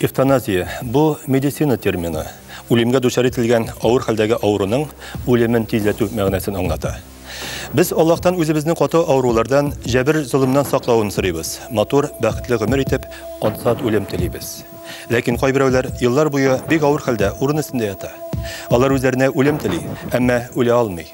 Эвтаназия, бу медицина термины. Үлемгә дучар ителгән авыр хәлдәге авыруның үлемен тизләтү мәгънәсен аңлата. Без Аллаһтан үзебезне каты авырулардан, җәбер золымнан саклавын сорыйбыз. Матур, бәхетле гомер итеп, ансат үлем телибез. Ләкин кайберәүләр еллар буе бик авыр хәлдә урын өстендә ята. Алар үзләренә үлем тели, әмма үлә алмый.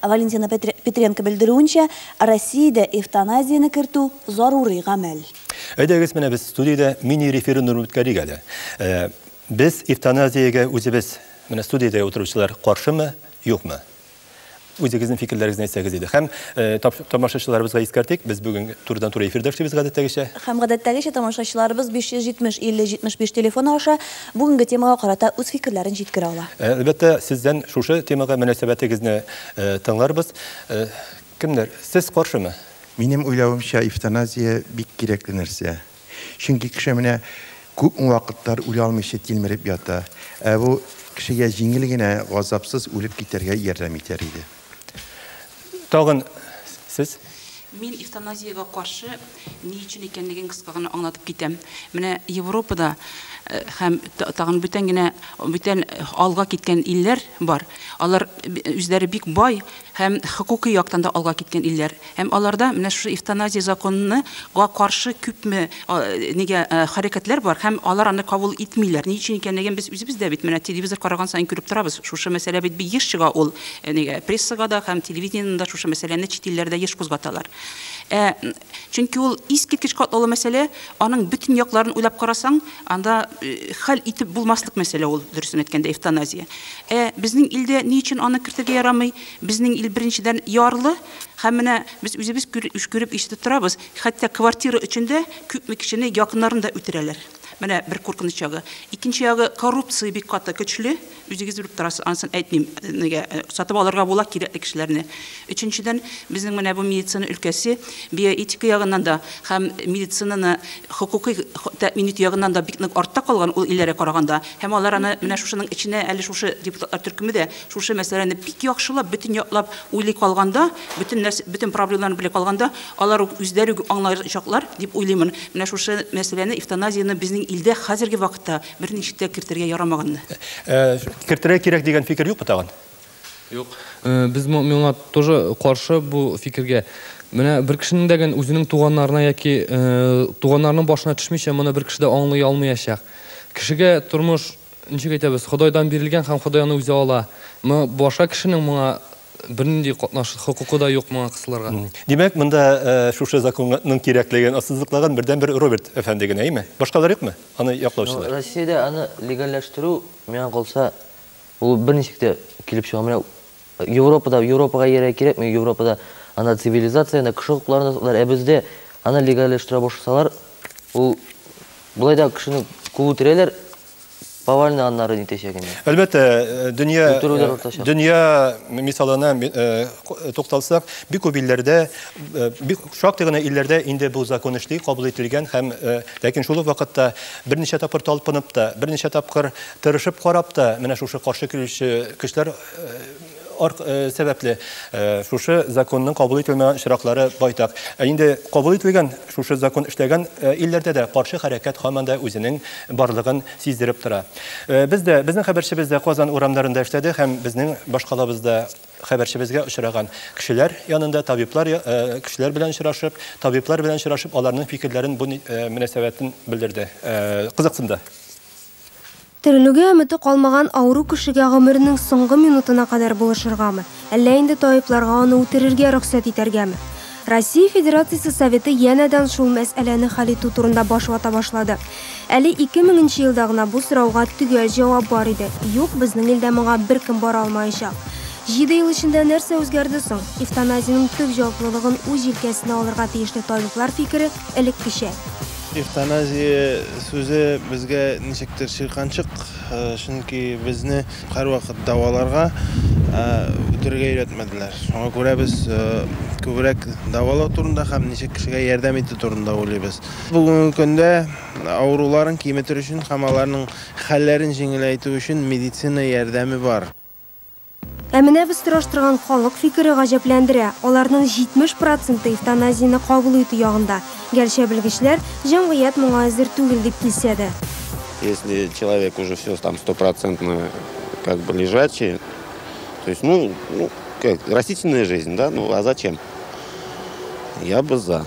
Валентина Петренко белдерүенчә, Россиядә эвтаназияне кертү зарури гамәл. Әйдәгез, менә без студиядә мини-референдум үткәрик әле. Э, без эвтаназиягә үзебез, менә студиядә утыручылар каршымы, юкмы? Үзегезнең фикерләрегезне әйтсәгез иде. Һәм э, тамашачыларыбызга искәртик, без бүген турыдан-туры эфирдә эшлибез гадәттәгечә. Һәм гадәттәгечә тамашачыларыбыз 570 50 75 телефоны аша Бүгенге темага карата үз фикерләрен җиткерә ала. Әлбәттә, сездән шушы темага мөнәсәбәтегезне тыңларбыз. Кемнәр, сез каршымы? Минем уйлавымча, эвтаназия бик кирәкле нәрсә. Чөнки кеше менә күпме вакытлар үлә алмыйча тилмереп ята. Ә бу кешегә җиңел генә, газапсыз үлеп китәргә ярдәм итәр иде. Тагын сез? Мин эвтаназиягә каршы ни өчен икәнлеген кыска гына аңлатып китәм. Менә Европада э, һәм тагын бүтән генә бүтән алга киткән илләр бар. Алар үзләре бик бай һәм хокукый яктан да алга киткән илләр. Һәм аларда менә шушы эвтаназия законына га каршы күпме а нигә а хәрәкәтләр бар һәм алар аны кабул итмиләр. Ни өчен икәнлеген без үзебез дә бит менә телевизор караган саен күреп торабыз. Шушы мәсьәлә бит бик еш чыга ул нигә прессага да һәм телевидениедән дә шушы мәсьәләне чит илләрдә еш кузгаталар. Ә чөнки ул искиткеч катлаулы мәсьәлә, аның бөтен якларын уйлап карасаң, анда хәл итеп булмаслык мәсьәлә ул, дөресен әйткәндә, эвтаназия. Ә безнең илдә ни өчен аны кертергә ярамый? Безнең ил беренчедән ярлы, Һәм менә без үзебез күреп ишетеп торабыз, хәтта квартира өчен дә күпме кешене якыннарын да үтерәләр. Менә бер куркыныч ягы. Икенче ягы коррупция бик каты көчле. Үзегез белеп торасыз, ансын әйтмим. Нигә э, сатып алырга була кирәкле кешеләрне. Өченчедән, безнең менә бу медицина өлкәсе биоэтика ягыннан да һәм медицинаны хокукый тәэмин итү ягыннан да бик нык артта калган ул илләргә караганда. Һәм алар аны менә шушының эченә әле шушы депутатлар төркеме дә Шушы мәсьәләне бик яхшылап, бөтен яклап уйлый калганда, бөтен нәрсә, бөтен проблемаларны белә калганда, алар ук үзләре үк аңлаячаклар, дип уйлыймын. Менә шушы мәсьәләне, эвтаназияне безнең илдә хәзерге вакытта берничек тә кертергә ярамаганны. Кертергә кирәк дигән фикер юкмы тагын? Юк. Без моңа тоже каршы бу фикергә. Менә бер кешенең дә гән үзенең туганнарына яки туганнарының башына төшмичә моны бер кеше дә аңлый алмыячак. Кешегә тормыш. Ничек әйтәбез, Ходайдан бирелгән һәм Ходай аны үзе ала. Мы баша кешенең моңа бернинди катнаш хокукы да юк моңа кысылырга. Димәк, монда шушы законның кирәклеген ассызыклаган бердәнбер Роберт әфәнде генә, әйме? Башкалар юкмы, аны яклаучылар? Россиядә аны легальләштерү, миңа калса, ул берничек тә килеп чыга. Менә Европада Европага иярә кирәкми, Европада ана цивилизация, ана кеше хокукларын саклар, ә бездә ана легальләштерә башласалар, ул болай да кешене куып үтерәләр, повальный аннары нитәчәк инде. Әлбәттә, э, дөнья Үтерүләр э, дөнья мисалына э, тукталсак, бик күп илләрдә, бик шактый гына илләрдә инде бу закон эшли, кабул ителгән һәм ләкин шул ук вакытта берничә тапкыр талпынып та, берничә тапкыр тырышып карап та, менә шушы каршы килүче көчләр Э, э, сәбәпле э, шушы законның кабул ителмә очраклары байтак. Ә инде кабул ителгән шушы закон эшләгән илләрдә дә каршы хәрәкәт һаман да үзенең барлыгын сиздереп тора. Без дә, безнең хәбәрчебез дә Казан урамнарында эшләде һәм безнең башкалабызда хәбәрчебезгә очраган кешеләр янында табиблар кешеләр белән очрашып, табиблар белән очрашып, аларның фикерләрен бу мөнәсәбәтен белдерде. Кызыксынды. Терелүгә өмете калмаган авыру кешегә гомеренең соңгы минутына кадәр булышыргамы, әллә инде табибларга аны үтерергә рөхсәт итәргәме? Россия Федерациясе Советы янәдән шул мәсьәләне хәл итү турында баш вата башлады. Әле 2000 нче елда гына бу сорауга төгәл җавап бар иде, юк, безнең илдә моңа беркем бара алмаячак. Җиде ел эчендә нәрсә үзгәрде соң? Эвтаназиянең төп җаваплылыгын үз җилкәсенә алырга тиешле табиблар фикере элеккечә. Эвтаназия сүзе безгә ничектер чирканчык, чөнки безне һәрвакыт дәваларга, ә үтерергә өйрәтмәделәр. Шуңа күрә без күбрәк дәвалау турында һәм ничек кешегә ярдәм итү турында уйлыйбыз. Бүгенге көндә авыруларын киметер өчен һәм аларның хәлләрен җиңеләйтү өчен медицина ярдәме бар. Ә менә без сораштырган халык фикере гаҗәпләндерә, аларның 70 проценты эвтаназияне кабул итү ягында, гәрчә белгечләр, җәмгыять моңа әзер түгел дип килсә дә. Если человек уже все там стопроцентно как бы лежачий, то есть, ну, ну, как, растительная жизнь, да, ну, а зачем? Я бы за.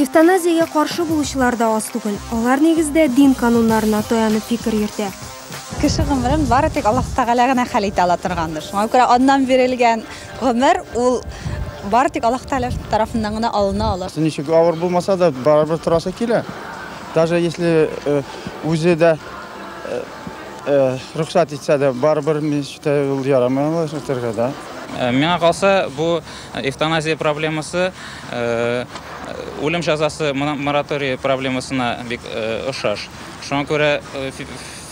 Эвтаназиягә каршы булучылар да аз түгел. Алар нигездә дин кануннарына таянып фикер йөртә. Кеше гомерен бары тик Аллаһ Тәгалә генә хәл итә ала торгандыр. Шуңа күрә аннан бирелгән гомер ул бары тик Аллаһ Тәгалә тарафыннан гына алына ала. Ничек авыр булмаса да, барыбер торасы килә. Даже если э, үзе дә э, э, рөхсәт итсә дә, барыбер мичтә ул ярамый ала үтәргә, да. Э, Миңа калса, бу Эвтаназия проблемасы үлем җәзасы моратории проблемасына бик ошаш. Шуңа күрә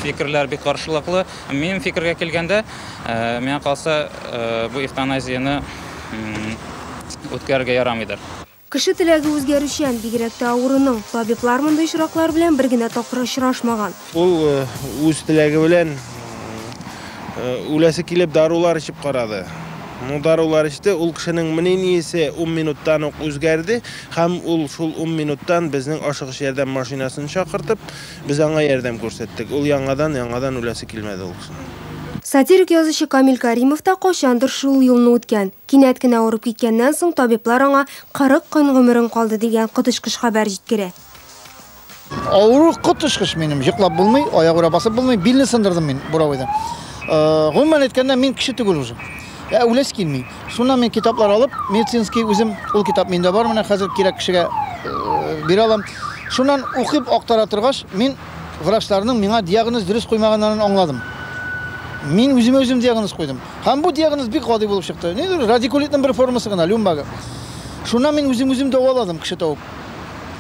фикерләр бик каршылыклы. Минем фикергә килгәндә, миңа калса, бу эвтаназияне үткәрергә ярамыйдыр. Кеше теләге үзгәрүчән, бигрәк тә авыруның. Табиблар мондый очраклар белән бер генә тапкыр очрашмаган. Ул үз теләге белән үләсе килеп дарулар эчеп карады. Ну, дарулар эчте, ул кешенең мнениесе ун минуттан ук үзгәрде, һәм ул шул ун минуттан безнең ашыгыч ярдәм машинасын чакыртып, без аңа ярдәм күрсәттек. Ул яңадан, яңадан үләсе килмәде ул кешенең. Сатирик язучы Камил Кәримов та кайчандыр шул юлны үткән. Кинәт кенә авырып киткәннән соң, табиблар аңа 40 көн гомерең калды дигән коточкыч хәбәр җиткерә. Авыру коточкыч минем, йоклап булмый, аягүрә басып булмый, билне сындырдым мин буровойда. Гомумән әйткәндә, мин кеше түгел уже. Ә үләсе килми. Шуннан мин китаплар алып, медицинский үзем, ул китап миндә бар, менә хәзер кирәк кешегә бирә алам. Шуннан укып актара торгач, мин врачларның миңа диагноз дөрес куймаганнарын аңладым. Мин үземә үзем диагноз куйдым. Һәм бу диагноз бик гади булып чыкты. Ни дөрес, радикулитның бер формасы гына, люмбага. Шуннан мин үзем үзем дәваладым, кеше табып.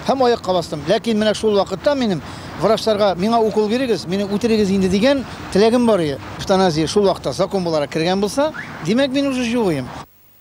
Һәм аякка бастым. Ләкин менә шул вакытта минем врачларга миңа укол бирегез, мине үтерегез инде дигән теләгем бар иде. Эвтаназия шул вакытта закон буларак кергән булса, димәк, мин уже җугыйм.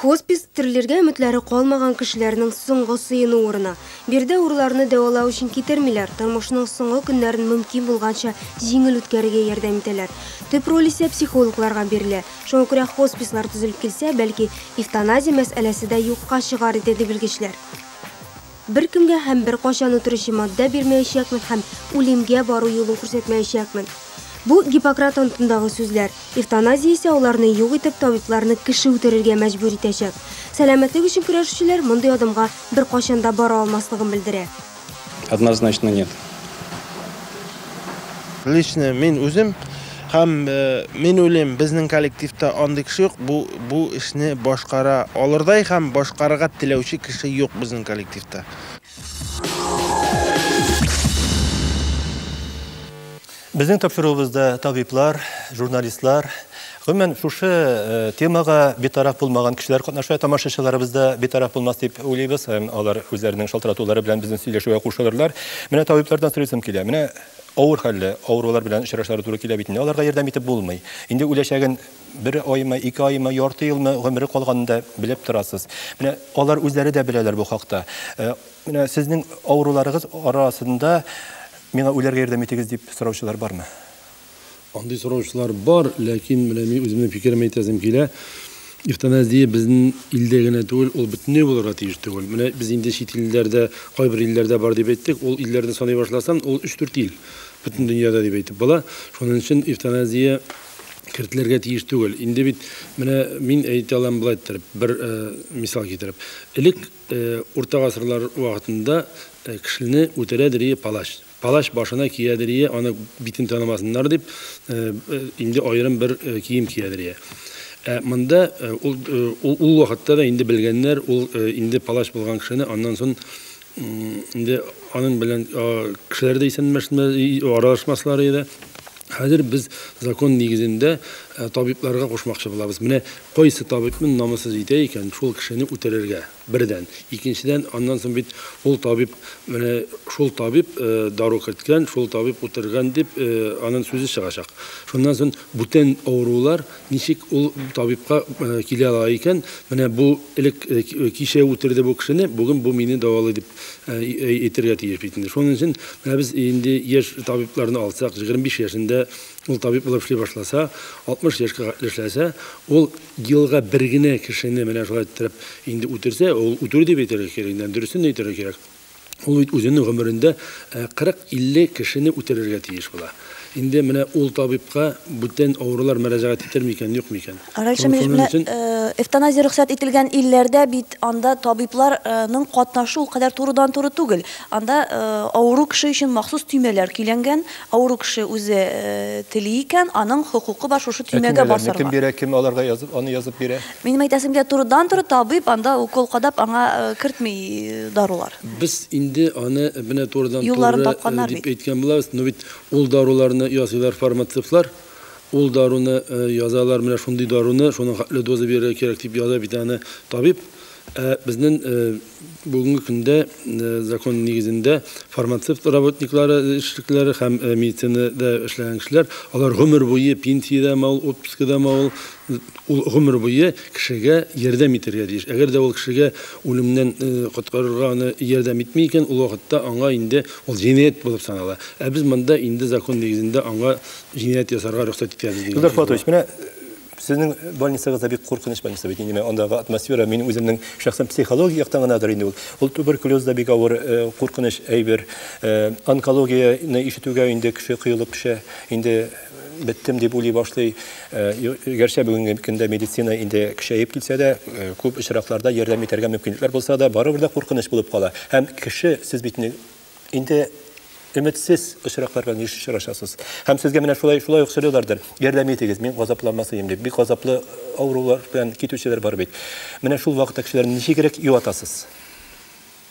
Хоспис, терелергә өметләре калмаган кешеләрнең соңгы сыену урыны. Биредә авыруларны дәвалау өчен китермиләр, тормышның соңгы көннәрен мөмкин булганча җиңел үткәрергә ярдәм итәләр. Төп роль исә психологларга бирелә. Шуңа күрә хоспислар төзелеп килсә, бәлки, эвтаназия мәсьәләсе дә юкка чыгар иде, ди белгечләр. Беркемгә һәм беркайчан үтерүче матдә бирмәячәкмен һәм үлемгә бару юлын күрсәтмәячәкмен. Бу, Гиппократ антындагы сүзләр. Эвтаназия исә аларны юк итеп, табибларны кеше үтерергә мәҗбүр итәчәк. Сәламәтлек өчен көрәшүчеләр мондый адымга беркайчан да бара алмаслыгын белдерә. Однозначно нет. Лично мин үзем һәм э, мин уйлыйм, безнең коллективта андый кеше юк, бу бу эшне башкара алырдай һәм башкарырга теләүче кеше юк безнең коллективта. Безнең тапшыруыбызда табиблар, журналистлар, Гомумән, шушы темага битараф булмаган кешеләр катнаша, тамашачыларыбыз да битараф булмас дип уйлыйбыз, һәм алар үзләренең шалтыратулары белән безнең сөйләшүгә кушылырлар. Менә табиблардан сорыйсым килә. Менә авыр хәлле, авырулар белән очрашары туры килә бит инде. Аларга ярдәм итеп булмый. Инде үләчәген бер аймы, ике аймы, ярты елмы гомере калганын да белеп торасыз. Менә алар үзләре дә беләләр бу хакта. Менә сезнең авыруларыгыз арасында миңа үләргә ярдәм итегез дип сораучылар бармы? Андый сораучылар бар, ләкин менә мин үземнең фикеремне әйтәсем килә. Эвтаназия безнең илдә генә түгел, ул бөтенләй булырга тиеш түгел. Менә без инде чит илләрдә, кайбер илләрдә бар дип әйттек, ул илләрне саный башласам, ул 3-4 ил бөтен дөньяда дип әйтеп була. Шуның өчен эвтаназия кертелергә тиеш түгел. Инде бит менә мин әйтә алам болай иттереп, бер э, мисал китереп. Элек э, урта гасырлар вакытында э, кешене үтерә дирие палач. Палач башына киядерие аны битен танымасыннар дип, инде аерым бер кием киядерие. Ә монда ул ул вакытта да инде белгәннәр, ул инде палач булган кешене аннан сон инде аның белән кешеләр дә исәнмәшмә аралашмаслар иде. Хәзер без закон нигезендә табибларга кушмакчы булабыз. Менә кайсы табибны намуссыз итә икән, шул кешене үтерергә. Бердән. Икенчедән, аннан соң бит ул табиб, менә шул табиб дару керткән, шул табиб үтергән дип, анын сүзе чыгачак. Шуннан соң бүтән авырулар ничек ул табибка килә ала икән, менә бу элек кичә үтерде бу кешене, бүген бу мине дәвалый дип әйтергә тиеш бит инде. Шуның өчен менә без инде яшь табибларны алсак, 25 яшендә ул табиб булып эшли башласа, 60 яшькә кадәр эшләсә, ул, Елга бер генә кешене менә шулай иттереп инде үтерсә, ул үтерү дип әйтергә кирәк инде, дөресен әйтергә кирәк. Ул бит үзенең гомерендә 40-50 э, кешене үтерергә тиеш була. Инде менә ул табибка бүтән авырулар мөрәҗәгать итер микән, юк микән? Раньше менә э, эвтаназия рөхсәт ителгән илләрдә бит анда табибларның катнашу ул кадәр турыдан-туры түгел. Анда э, авыру кеше өчен махсус төймәләр көйләнгән, Авыру кеше үзе тели икән, аның хокукы бар шушы төймәгә басарга. Ә төймәләрне кем бирә, кем аларга язып, аны язып бирә? Минем әйтәсем килә, турыдан-туры табиб анда укол кадап аңа кертми дарулар. Без инде аны менә турыдан-туры дип әйткән булабыз, но бит ул даруларны ясыйлар фармацевтлар, ул даруны язалар, менә шундый даруны, шуның хәтле доза бирергә кирәк дип яза бит аны табиб. Ә безнең бүгенге көндә закон нигезендә фармацевт работниклары эшлекләре һәм медицинада эшләгән кешеләр, алар гомер буе пенсиядә мал, отпускада мал, ул гомер буе кешегә ярдәм итәргә тиеш. Әгәр дә ул кешегә үлемнән коткарырга аны ярдәм итми икән, ул вакытта аңа инде ул җинаять булып санала. Ә без монда инде закон нигезендә аңа җинаять ясарга рөхсәт итәбез дигән. Илдар Фатович, менә Сезнең больницагыз да бик куркыныч больница бит. Инде андагы атмосфера мин үземнең шәхсән психология яктан гынадыр инде ул. Ул туберкулез да бик авыр э, куркыныч әйбер. Э, онкологияне ишетүгә инде кеше кыелып төшә. Инде э, беттем дип уйлый башлый. Гәрчә бүгенге көндә медицина инде көчәеп килсә дә, күп очракларда ярдәм итәргә мөмкинлекләр булса да, барыбер дә куркыныч булып кала. Һәм кеше сез бит инде өметсез очракларга еш очрашасыз. Һәм сезгә менә шулай шулай ук сөйләләрдер. Ярдәм итегез, мин газапланмасыйм дип. Бик газаплы авырулар белән китүчеләр бар бит. Менә шул вакытта кешеләрне ничегрәк юатасыз?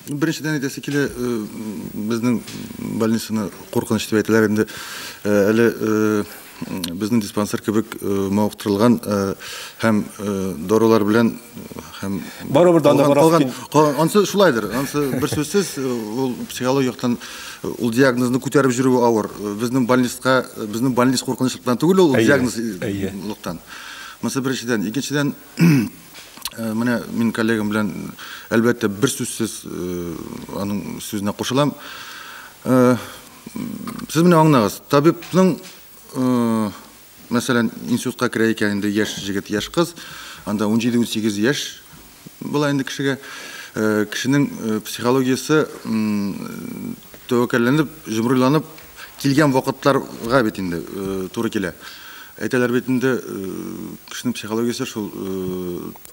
Беренчедән әйтәсе килә, э, безнең больницаны куркыныч дип әйтәләр инде. Э, әле э, безнең диспансер кебек мавыктырылган һәм дарулар белән һәм барыбер дә калган ансы шулайдыр ансы бер сүзсез ул психологик яктан ул диагнозны күтәреп йөрүе авыр безнең больницка безнең больниц куркынычлыктан түгел ул диагнозлыктан монысы беренчедән икенчедән Э, менә мин коллегам белән әлбәттә бер сүзсез э, аның сүзенә кушылам э, Сез менә аңлагыз, табибның мәсәлән, институтка керә икән инде яшь җегет, яшь кыз, анда 17-18 яшь була инде кешегә. Э, кешенең э, психологиясе тәвәккәлләнеп, җомрыланып килгән вакытларга бит инде э, туры килә. Әйтәләр бит инде, кешенең психологиясе шул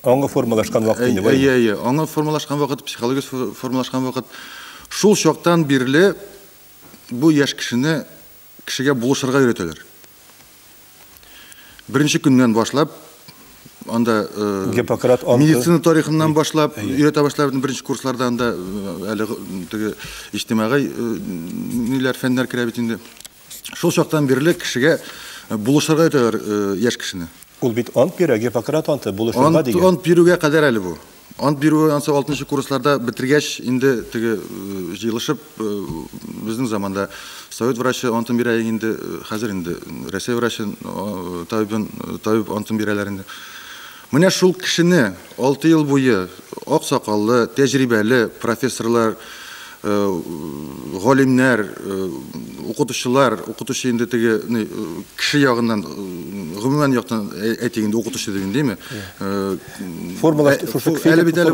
Аңы формалашкан вакыт инде бу. Әйе, әйе. Аңы формалашкан вакыт, психология формалашкан вакыт. Шул чактан бирле бу яшь кешене кешегә булышырга өйрәтәләр. Беренче көннән башлап анда Гиппократ анты медицина тарихыннан башлап өйрәтә башлар беренче курсларда анда әле теге иҗтимагый ниләр фәннәр керә бит инде. Шул чактан бирле кешегә булышырга әйтәләр яшь кешене. Ул бит ант бирә, Гиппократ анты, булышырга дигән. Ант бирүгә кадәр әле бу. Ант бирүе ансы 6 курсларда бетергәч, инде теге җыелышып безнең заманда совет врачы антын бирә инде, хәзер инде Россия врачы табибын табиб антын бирәләр инде. Менә шул кешене алты ел буе ак сакаллы, тәҗрибәле профессорлар, галимнәр, укытучылар, укытучы инде теге кеше ягыннан, гомумән яктан әйтик инде, укытучы дип инде, әйме? Формула шушы кеше әле бит әле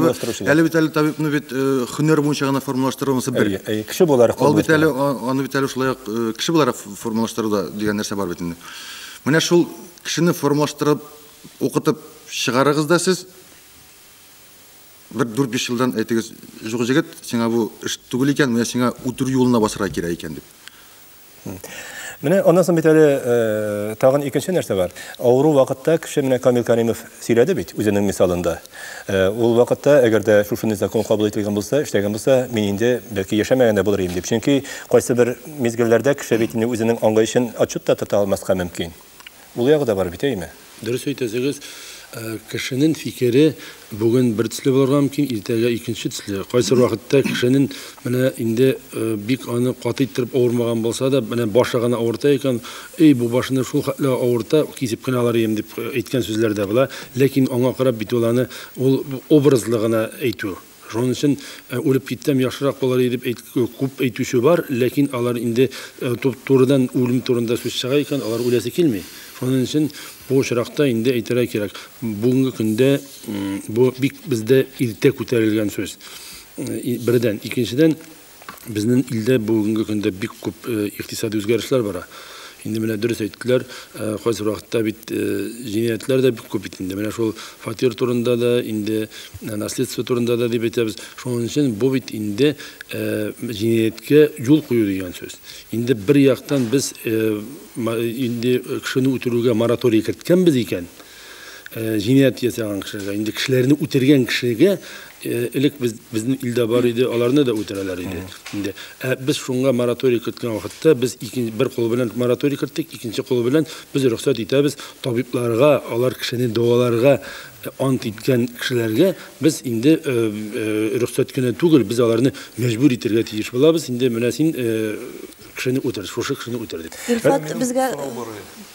әле бит әле табибны бит һөнәр буенча гына формалаштырылмаса бер. Әйе, кеше буларак. Ул бит әле аны бит әле шулай ук кеше буларак формалаштыруда дигән нәрсә бар бит инде. Менә шул кешене формалаштырып Укытып чыгарыгыз да сез. Бер дүрт-биш елдан әйтегез, жук җегет, сиңа бу эш түгел икән, менә сиңа үтерү юлына басырга кирәк икән дип. Менә аннан соң бит әле э, тагын икенче нәрсә бар. Авыру вакытта кеше менә Камил Каримов сөйләде бит үзенең мисалында. Э, ул вакытта, әгәр дә шушы закон кабул ителгән булса, эшләгән булса, мин инде бәлки яшәмәгән дә булыр идем дип. Чөнки кайсы бер мизгелләрдә кеше бит инде үзенең аңлаешын отчет та тота алмаска мөмкин. Ул ягы да бар бит, әйеме? Дөрес әйтәсегез, кешенен фикере бүген бер төсле булырга мөмкин, иртәгә икенче төсле. Кайсы вакытта кешенен менә инде бик аны каты иттереп авырмаган булса да, менә башы гына авырта икән, эй, бу башны шул хәтле авырта, кисеп кенә алар идем дип әйткән сүзләр дә була. Ләкин аңа карап бит ул аны ул образлы гына әйтү. Шуның өчен үлеп китсәм яхшырак булыр иде дип әйт, күп әйтүче бар, ләкин алар инде турыдан үлем турында сүз чыга икән, алар үләсе килми. Шуның өчен бу очракта инде әйтергә кирәк, бүгенге көндә бу бик бездә иртә күтәрелгән сүз. Бердән, икенчедән, Безнең илдә бүгенге көндә бик күп э, икътисади үзгәрешләр бара. Инде менә дөрес әйттеләр, э, кайсы вакытта бит э, җинаятьләр дә бик күп бит инде. Менә шул фатир турында да, инде наследство турында да дип әйтәбез. Шуның өчен бу бит инде җинаяткә юл кую дигән сүз. Инде бер яктан без инде кешене үтерүгә мораторий керткәнбез икән, җинаять ясаган кешеләргә, инде кешеләрне үтергән кешегә элек без безнең илдә бар иде, аларны да үтерәләр иде. Инде ә без шуңа мораторий керткән вакытта без икенче бер кул белән мораторий керттек, икенче кул белән без рөхсәт итәбез табибларга, алар кешене дәваларга ант иткән кешеләргә без инде рөхсәт кенә түгел, без аларны мәҗбүр итәргә тиеш булабыз. Инде менә син кешене үтер, шушы кешене үтер дип. Илфат безгә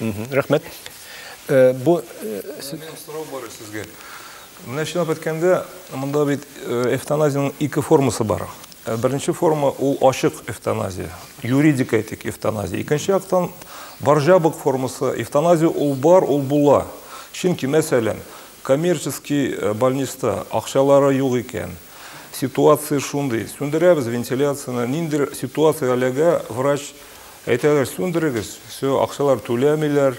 Рәхмәт. Бу сорау бар сезгә. Менә чынлап әйткәндә, монда бит эвтаназиянең ике формасы бар. Беренче форма ул ачык эвтаназия, юридик әйтик эвтаназия. Икенче яктан баржабык формасы эвтаназия ул бар, ул була. Чөнки, мәсәлән, коммерческий больниста акчалары юк икән, ситуация шундый, сүндерәбез вентиляцияне, ниндидер ситуация әлегә врач Әйтәләр, сүндерегез, все, акчалар түләмиләр,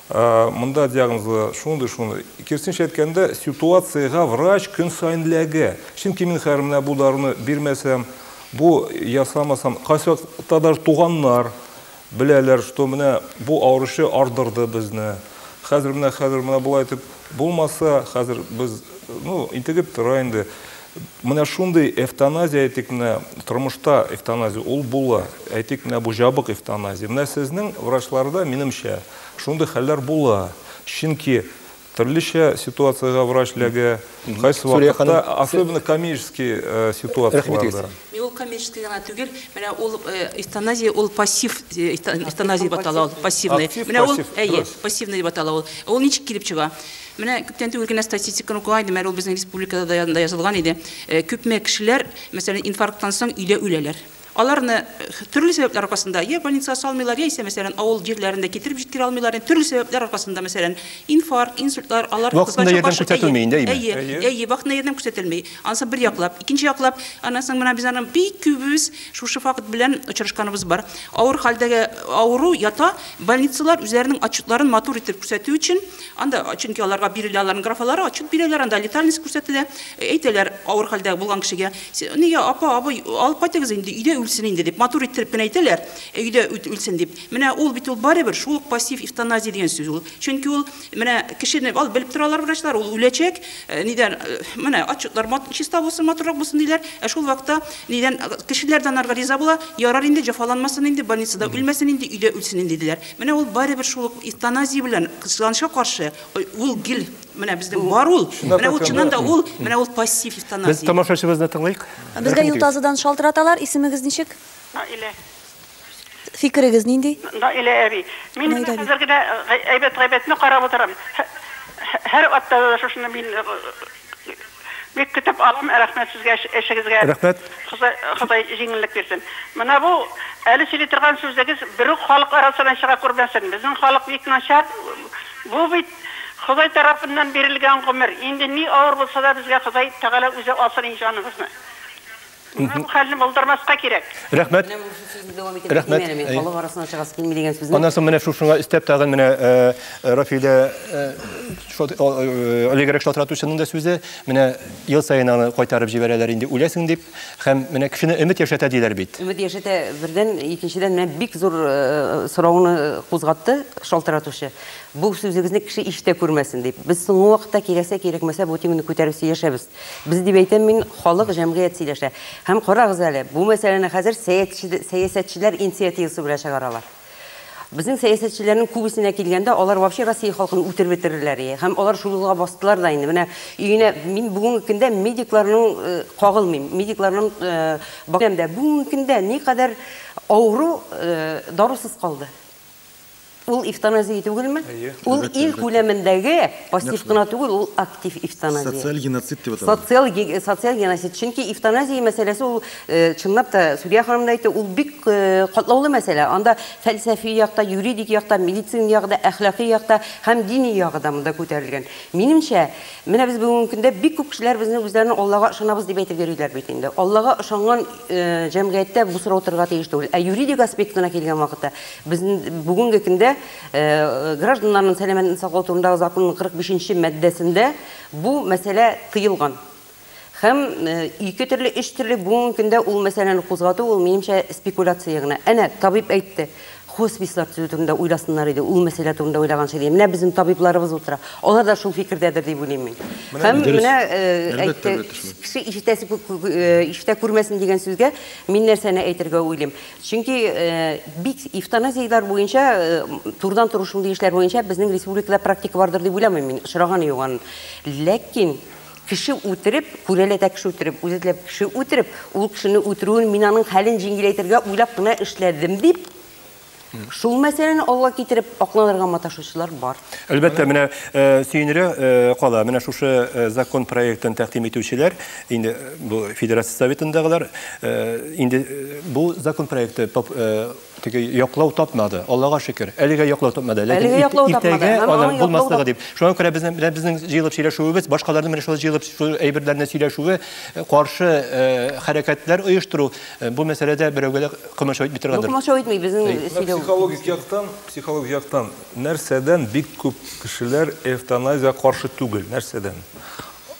ә, монда диагнозлы шундый, шундый. Кирсенчә әйткәндә, ситуациягә врач көн саен ләгә. Чөнки мин хәзер менә бу даруны бирмәсәм, бу ясамасам, кайсыта даже туганнар беләләр, что менә бу авыручы ардырды безне. Хәзер менә хәзер менә болай итеп булмаса, хәзер без, ну, интегеп тора инде. Менә шундый эвтаназия, әйтик, менә тормышта эвтаназия ул була. Әйтик, менә бу җабык эвтаназия. Менә сезнең врачларда, минемчә, шундый хәлләр була. Чөнки төрлечә ситуациягә врач ләгә, кайсы вакытта, особенно коммерческий э, ситуацияләрдә. Мин ул коммерческий гына түгел, менә ул э, эвтаназия, ул пассив э, эвтаназия дип атала ул, пассивный. Менә ул, әйе, пассивный дип атала ул. Ул ничек килеп чыга? Менә күптән түгел генә статистиканы укыган идем, әле ул безнең республикада да янында язылган иде. Э, күпме кешеләр, мәсәлән, инфаркттан соң өйдә үләләр. Аларны э, төрле сәбәпләр аркасында я больницага салмыйлар, яисә, мәсәлән, авыл җирләрендә китереп җиткерә алмыйлар. Инде төрле сәбәпләр аркасында, мәсәлән, инфаркт, инсультлар, алар Вакытында ярдәм күрсәтелми инде, әйеме? Әйе, әйе, әйе, вакытында ярдәм күрсәтелми. Анысы бер яклап, икенче яклап, аннан соң менә без аны бик күбебез шушы факт белән очрашканыбыз бар. Авыр хәлдәге авыру ята, больницалар үзләренең отчетларын матур итеп күрсәтү өчен Анда, чөнки аларга бирелә, аларның графалары отчет бирәләр, анда летальность күрсәтелә, әйтәләр, авыр хәлдә булган кешегә, нигә, апа, абый, алып кайтыгыз инде, өйдә үлсен инде, дип, матур иттереп кенә әйтәләр, өйдә үлсен дип. Менә ул бит ул барыбер шул ук пассив эвтаназия дигән сүз ул. Чөнки ул, менә кешене, ал, белеп торалар врачлар, ул үләчәк, нидән, менә отчетлар чиста булсын, матуррак булсын, диләр, ә шул вакытта, нидән, кешеләр дә анарга риза була, ярар инде, җәфаланмасын инде, больницада үлмәсен инде, өйдә үлсен инде, диләр. Менә ул барыбер шул ук эвтаназия белән кызганычка каршы ул гел менә безнең бар ул. Менә ул чыннан да ул, менә ул пассив эвтаназия. Без тамашачыбызны тыңлыйк. Безгә юл тазыдан шалтыраталар, исемегез ничек? Наилә. Фикерегез нинди? Наилә әби. Мин менә хәзер генә әйбәт-гайбәтне карап утырам. Һәр атнада да шушыны мин Бик көтеп алам, рәхмәт сезгә эшегезгә. Рәхмәт. Ходай җиңеллек бирсен. Менә бу әле сөйли торган сүзегез берүк халык арасына чыга күрмәсен. Безнең халык бик начар. Бу бит Ходай тарафыннан бирелгән гомер. Инде ни авыр булса да безгә Ходай Тәгалә үзе алсын ин җаныбызны. Менә бу хәлне булдырмаска кирәк. Рәхмәт. Менә шушы сүзне дәвам итәргә Рәхмәт. тиңәр, мин халык арасына чыгасы килми дигән сүзне. Аннан соң менә шушыңа өстәп тагын менә Рафилә олегрәк шалтыратучының да сүзе, менә ел саен аны кайтарып җибәрәләр инде үләсең дип, һәм менә кешене өмет яшәтә диләр бит. Өмет яшәтә бердән, икенчедән менә бик зур сорауны кузгатты шалтыратучы. Бу сүзегезне кеше ишетә күрмәсен дип. Без соңгы вакытта кирәксә-кирәкмәсә бу теманы күтәреп сөйләшәбез. Без дип әйтәм мин, халык, җәмгыять сөйләшә. Һәм карагыз әле, бу мәсьәләне хәзер сәясәтчеләр инициативасы белән чыгаралар. Безнең сәясәтчеләрнең күбесенә килгәндә, алар вообще Россия халкын үтереп бетерерләр ие. Һәм алар шул юлга бастылар да инде. Менә өенә мин бүгенге көндә медикларның э, кагылмыйм. Медикларның э, бакыйм дә бүгенге көндә никадәр авыру э, дарусыз калды. Ул эвтаназия түгелме? Әйе. Ул ил күләмендәге пассив кына түгел, ул актив эвтаназия. Социаль геноцид дип атала. Социаль социаль геноцид. Чөнки эвтаназия мәсьәләсе ул, чынлап та, Сүрия ханым да әйтте, ул бик катлаулы мәсьәлә. Анда фәлсәфи якта, юридик якта, медицина ягы да, әхлакый якта һәм дини ягы да монда күтәрелгән. Минемчә, менә без бүгенге көндә бик күп кешеләр безне үзләрен Аллага ышанабыз дип әйтеп йөриләр бит инде. Аллага ышанган җәмгыятьтә бу сорау торырга тиеш түгел. Ә юридик аспектына килгән вакытта, Безнең бүгенге көндә гражданнарның сәламәтен саклау турындагы законның 45 нче маддәсендә бу мәсьәлә тыелган. Һәм ике төрле, өч төрле бүгенге көндә ул мәсьәләне кузгату, ул минемчә спекуляция гына. Әнә, табиб әйтте, хоспислар төзү турында уйласыннар иде, ул мәсьәлә турында уйлаганчы диде. Менә безнең табибларыбыз утыра. Алар да шул фикердәдер дип уйлыйм мин. Һәм менә әйтте, кеше ишетәсе күп ишетә күрмәсен дигән сүзгә мин нәрсәне әйтергә уйлыйм. Чөнки бик эвтаназияләр буенча, турыдан-туры шундый эшләр буенча безнең республикада практика бардыр дип уйламыйм мин, очраганы юк аның. Ләкин кеше үтереп, күрәләтә кеше үтереп, үзе теләп кеше үтереп, ул кешене үтерүен мин аның хәлен җиңеләйтергә уйлап кына эшләдем дип, шул мәсьәләне алга китереп акланырга маташучылар бар. Әлбәттә, менә сөенергә кала, менә шушы закон проектын тәкъдим итүчеләр, инде бу федерация советындагылар инде бу закон проекты теге яклау тапмады аллага шөкер әлегә яклау тапмады ләкин иртәгә аның булмаслыгы дип шуңа күрә безнең белән безнең җыелып сөйләшүебез башкаларның менә шулай җыелып шул әйберләрне сөйләшүе каршы хәрәкәтләр оештыру бу мәсьәләдә берәүгә дә комачау итми торгандыр комачау итми безнең сөйләү психологик яктан психологик яктан нәрсәдән бик күп кешеләр эвтаназия каршы түгел нәрсәдән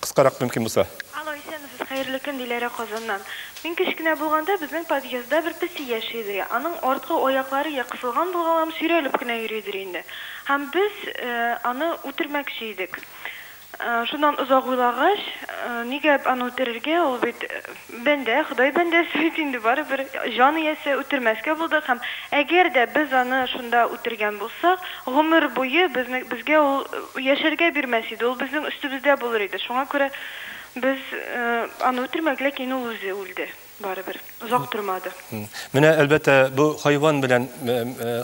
Кыскарак мөмкин булса. Алло, исәнмесез, хәерле көн, Диләрә Казаннан. Мин кечкенә булганда безнең подъездда бер песи яши иде. Аның арткы аяклары я кысылган булган һәм сөйрәлеп кенә йөридер инде. Һәм без аны үтермәкче идек. Шуннан озак уйлагач, нигә аны үтерергә, ул бит Бәндә, Ходай бәндәсе бит инде, барыбер җан иясе, үтермәскә булдык һәм әгәр дә без аны шунда үтергән булсак, гомер буе безне, безгә ул яшәргә бирмәс иде, ул безнең өстебездә булыр иде, шуңа күрә без аны үтермәдек, ләкин ул үзе үлде, барыбер, озак тормады. Менә, әлбәттә, бу хайван белән,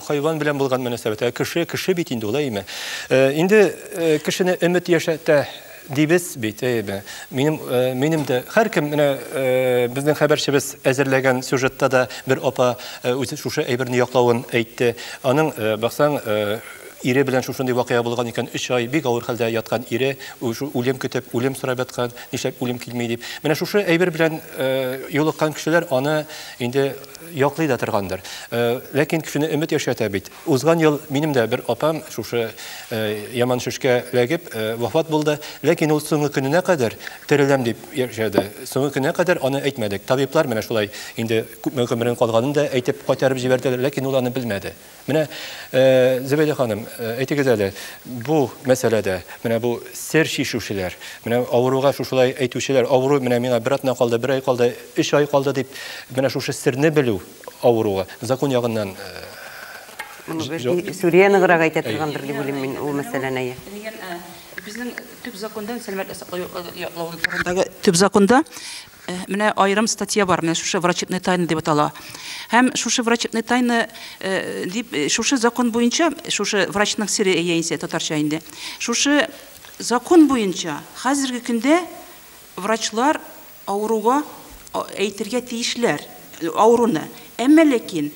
хайван белән булган мөнәсәбәт, ә кеше, кеше бит инде ул, әйеме? Инде кешене өмет яшәтә. Дибез бит, әйбе. Минем, э, минем дә һәркем менә э, безнең хәбәрчебез әзерләгән сюжетта да бер апа э, үзе шушы әйберне яклавын әйтте. Аның э, баксаң э, ире белән шушындый вакыйга булган икән, өч ай бик авыр хәлдә яткан ире, уже үлем көтеп, үлем сорап яткан, нишләп үлем килми дип. Менә шушы әйбер белән э, юлыккан кешеләр аны инде яклый да торгандыр. Э, ләкин кешене өмет яшәтә бит. Узган ел минем дә бер апам шушы яман шешкә эләгеп вафат булды. Ләкин ул соңгы көненә кадәр тереләм дип яшәде. Соңгы көненә кадәр аны әйтмәдек. Табиблар менә шулай инде күпме гомерен калганын да әйтеп кайтарып җибәрделәр, ләкин ул аны белмәде. Менә Зөбәйдә ханым, әйтегез әле, бу мәсьәләдә, менә бу сер чишүчеләр, менә авыруга шушылай әйтүчеләр, авыру менә миңа бер атна калды, бер ай калды, өч ай калды дип, менә шушы серне белү, авыруга закон ягыннан Сүрия ныграк әйтә торгандыр дип уйлыйм мин ул мәсьәләне, әйе. Дигән безнең төп законда сәламәтлек саклау йортларын яклау турындагы төп законда менә аерым статья бар, менә шушы врачебная тайна дип атала. Һәм шушы врачебная тайна дип шушы закон буенча, шушы врачның сере яисә татарча инде. Шушы закон буенча хәзерге көндә врачлар Авыруга әйтергә тиешләр авыруны. Әмма ләкин,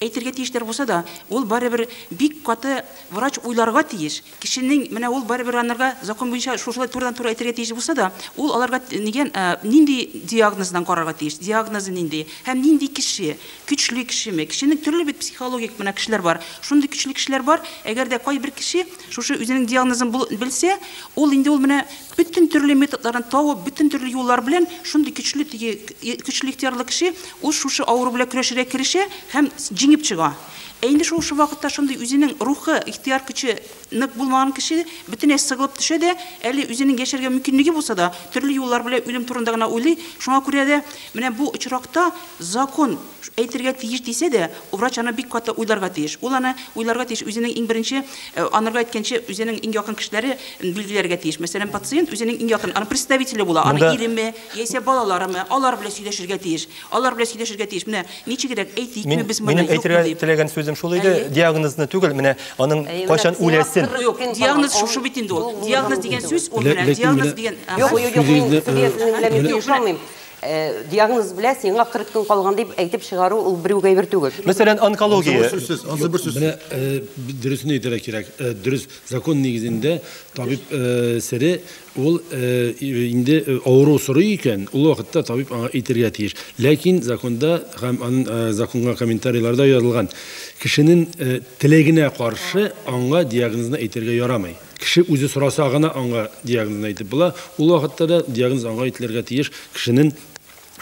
әйтергә тиешләр булса да, ул барыбер бик каты врач уйларга тиеш. Кешенең, менә ул барыбер анарга закон буенча шушылай турыдан-туры әйтергә тиеш булса да, ул аларга нигән, нинди диагноздан карарга тиеш, диагнозы нинди һәм нинди кеше, көчле кешеме. Кешенең төрле бит психологик менә кешеләр бар. Шундый көчле кешеләр бар, әгәр дә кайбер кеше шушы үзенең диагнозын бул белсә, ул инде ул менә Бөтен төрле методларын табып, бөтен төрле юллар белән шундый көчле теге көчле ихтиярлы кеше ул шушы авыру белән көрәшергә керешә һәм җиңеп чыга. Ә инде шушы вакытта шундый үзенең рухы, ихтияр көче нык булмаган кеше бөтенләй сыгылып төшә дә, әле үзенең яшәргә мөмкинлеге булса да, төрле юллар белән үлем турында гына уйлый. Шуңа күрә дә менә бу очракта закон әйтергә тиеш дисә дә, врач аны бик каты уйларга тиеш. Ул аны уйларга тиеш, үзенең иң беренче, анырга әйткәнче, үзенең иң якын кешеләре билгеләргә тиеш. Мәсәлән, пациент үзенең иң якын, аның представителе була, аны иреме, яисә балаларымы, алар белән сөйләшергә тиеш. Алар белән сөйләшергә тиеш. Менә ничегрәк, әйтикме без моны, юкмы дип. Минем әйтергә теләгән сүзем шул иде, диагнозны түгел, менә аның кайчан үләсен. Юк, диагноз шушы бит инде ул. Диагноз дигән сүз, ул менә диагноз дигән. Юк, юк, мин сүзегезне аңламыйм. Диагноз белә, сиңа 40 көн калган дип әйтеп чыгару ул берүк әйбер түгел. Мәсәлән, онкология. Менә дөресен әйтергә кирәк. Дөрес, закон нигезендә табиб сере ул инде авыру сорый икән, ул вакытта табиб аңа әйтергә тиеш. Ләкин законда һәм аның законга комментарийларда язылган, кешенең теләгенә каршы аңа диагнозны әйтергә ярамый. Кеше үзе сораса гына аңа диагнозны әйтеп була. Ул вакытта да диагноз аңа әйтелергә тиеш. Кешенең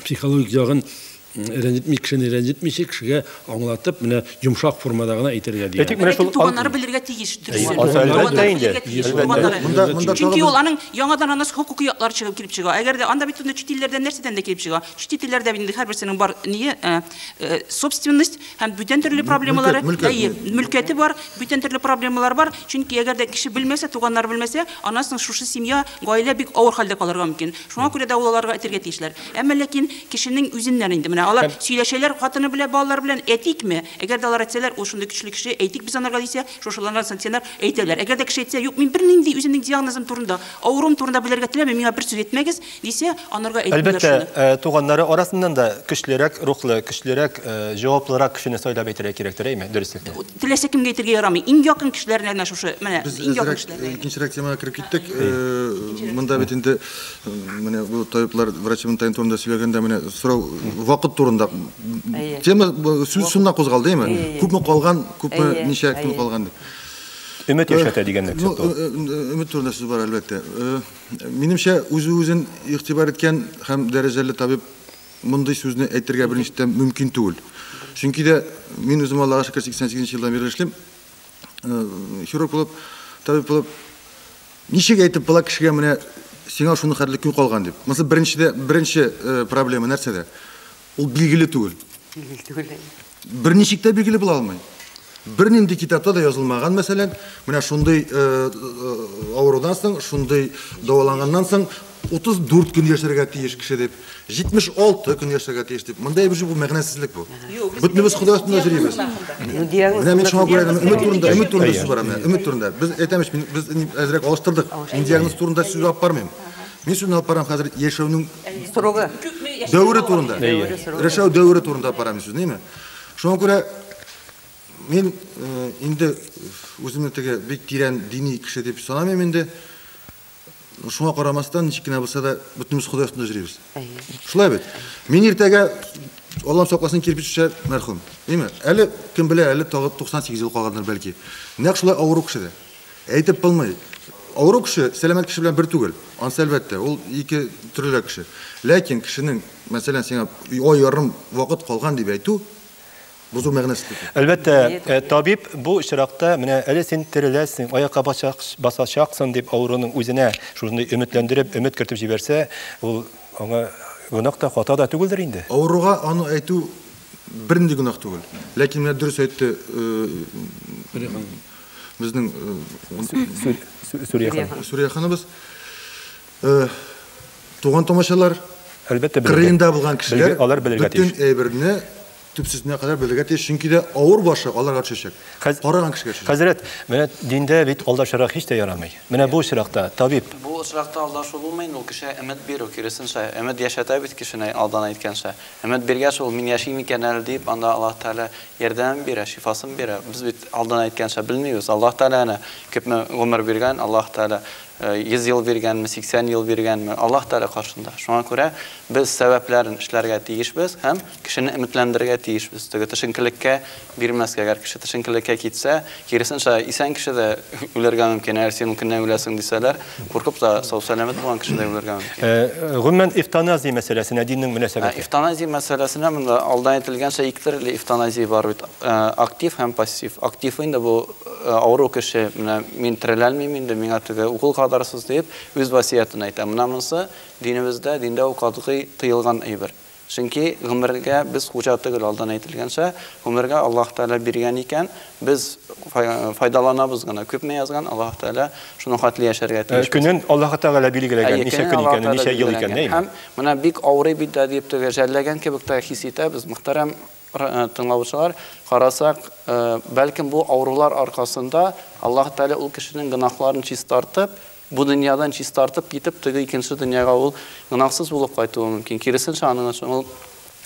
психологик ягын рәнҗетми, кешене рәнҗетмичә, кешегә аңлатып, менә йомшак формада гына әйтергә диагноз. Әйтик, менә шул туганнары белергә тиеш дөресен. Туганнары белергә тиеш. Туганнары. Чөнки ул аның яңадан анасы хокукый яклары чыгып килеп чыга. Әгәр дә анда бит инде чит илләрдән нәрсәдән дә килеп чыга. Чит илләрдә бит инде һәрберсенең бар ние, собственность, Һәм бүтән төрле проблемалары, әйе, мөлкәте бар, бүтән төрле проблемалар бар. Чөнки әгәр дә кеше белмәсә, туганнар белмәсә, аннан соң шушы семья, гаилә бик авыр хәлдә калырга мөмкин. Шуңа күрә дә ул аларга әйтергә тиешләр. Әмма ләкин кешенең үзеннән инде менә алар сөйләшәләр хатыны белән, балалар белән, әйтикме? Әгәр дә алар әйтсәләр, ул шундый көчле кеше, әйтик без анарга дисә, шушыларга сантенар әйтәләр. Әгәр дә кеше әйтсә, юк, мин бернинди үземнең диагнозым турында, авыруым турында белергә теләмим, миңа бер сүз әйтмәгез, Дисә, анарга әйтмиләр Әлбәттә, шуны. Э, туганнары арасыннан да көчлерәк рухлы, көчлерәк, э, җаваплырак кешене сайлап әйтергә кирәктер, әйме, дөреслекне? Теләсә кемгә әйтергә ярамый. Иң якын кешеләренә генә шушы, менә, Без иң якын кешеләренә. Э, икенчерәк темага кереп киттек. Э, монда бит инде менә бу табиблар врачның тайын турында сөйләгәндә менә сорау вакыт турында тема сүз шуннан кузгалды, әйме? Күпме калган, күпме ничә көн калган дип. Өмет яшәтә дигәнлек сүз. Өмет турында сүз бар, әлбәттә. Минемчә, үзе-үзен игътибар иткән һәм дәрәҗәле табиб мондый сүзне әйтергә беренче тәм мөмкин түгел. Чөнки дә мин үзем Аллага шөкер 88 нче елдан бирле эшлим. Э, хирург булып, табиб булып ничек әйтеп була кешегә менә сиңа шуны хәтле көн калган дип. Монысы беренче дә беренче э, проблема нәрсәдә? Ул билгеле түгел. Билгеле түгел. Берничек тә билгеле була алмый. Бернинди китапта да язылмаган, мәсәлән, менә шундый э, э, авырудан соң, шундый дәваланганнан соң 34 көн яшәргә тиеш кеше дип, 76 көн яшәргә тиеш дип. Монда әйбер бу мәгънәсезлек бу. Бөтенебез Ходай астында йөрибез. Менә мин шуңа күрә өмет турында, өмет турында сүз бара менә, өмет турында. Без әйтәмеш, без әзрәк алыштырдык. Мин диагноз турында сүз алып бармыйм. Мин сүзне алып барам хәзер яшәүнең срогы, дәвере турында. Яшәү дәвере турында алып барам сүзне, әйме? Шуңа күрә мин э, инде үземне теге бик тирән дини кеше дип санамыйм инде. Шуңа карамастан, ничек кенә булса да, бөтенебез Ходай астында йөрибез. Шулай бит. Мин иртәгә Аллам сакласын кирпич төшә мәрхүм. Әйме? Әле кем белә, әле тагы 98 ел калгандыр бәлки. Нәкъ шулай авыру кеше дә. Әйтеп булмый. Авыру кеше сәламәт кеше белән бер түгел. Ансы әлбәттә, ул ике төрлерәк кеше. Ләкин кешенең, мәсәлән, сиңа ай ярым вакыт калган дип әйтү, бу зур мәгънәсез. Әлбәттә, э, табиб бу очракта, менә әле син тереләсең, аякка басачаксың дип авыруның үзенә шушындый өметләндереп, өмет кертеп җибәрсә, ул аңа гөнаһ та, хата да түгелдер инде. Авыруга аны әйтү бернинди гөнаһ түгел. Ләкин менә дөрес әйтте, э, Безнең Сүрия ханыбыз туган томачалар әлбәттә кырыенда булган кешеләр алар белергә тиеш. Бөтен әйберне төпсезенә кадәр белергә тиеш, чөнки дә авыр башы аларга төшәчәк. Караган кешегә төшәчәк. Хәзрәт, менә диндә бит алдашырак һич тә ярамый. Менә бу очракта табиб. Бу очракта алдашу булмый, ул кешегә өмет бирү, киресенчә, өмет яшәтә бит кешене алдан әйткәнчә. Өмет биргәч, ул мин яшим икән әле дип, анда Аллаһ Тәгалә ярдәмен бирә, шифасын бирә. Без бит алдан әйткәнчә белмибез. Аллаһ Тәгалә әнә күпме гомер биргән, Аллаһ Тәгалә 100 ел биргәнме, 80 ел биргәнме, Аллаһ Тәгалә каршында. Шуңа күрә без сәбәпләрен эшләргә тиешбез һәм кешене өметләндерергә тиешбез. Теге төшенкелеккә Бирмәскә, әгәр кеше тешенкелеккә китсә, киресенчә, исән кеше дә үләргә мөмкин, әгәр син ул көнне үләсең дисәләр, куркып та, сау-сәламәт булган кеше дә үләргә мөмкин. Ә, гомумән, эвтаназия мәсьәләсенә диннең мөнәсәбәте? Эвтаназия мәсьәләсенә монда алдан әйтелгәнчә ике төрле эвтаназия бар бит, актив һәм пассив. Актив инде бу, авыру кеше, менә мин тереләлмим инде, миңа теге укол кадырсыз диеп, үз васыятен әйтә. Менә монысы динебездә, диндә ул катгый тыелган әйбер. Чөнки гомергә без хуҗа түгел, алдан әйтелгәнчә, гомергә Аллаһ Тәгалә биргән икән, без файдаланабыз гына. Күпме язган, Аллаһ Тәгалә шуның хәтле яшәргә тиешбез. Көнен Аллаһ Тәгалә билгеләгән, ничә көн икәнен, ничә ел икәнен, әйеме? Һәм менә бик авырый бит дә дип теге жәлләгән кебек тә хис итәбез. Мөхтәрәм тыңлаучылар, карасак, бәлкем бу авырулар аркасында Аллаһ Тәгалә ул кешенең гөнаһларын чистартып, Бу дөньядан чистартып китеп, теге икенче дөньяга ул гөнаһсыз булып кайтуы мөмкин. Киресенчә, аның өчен ул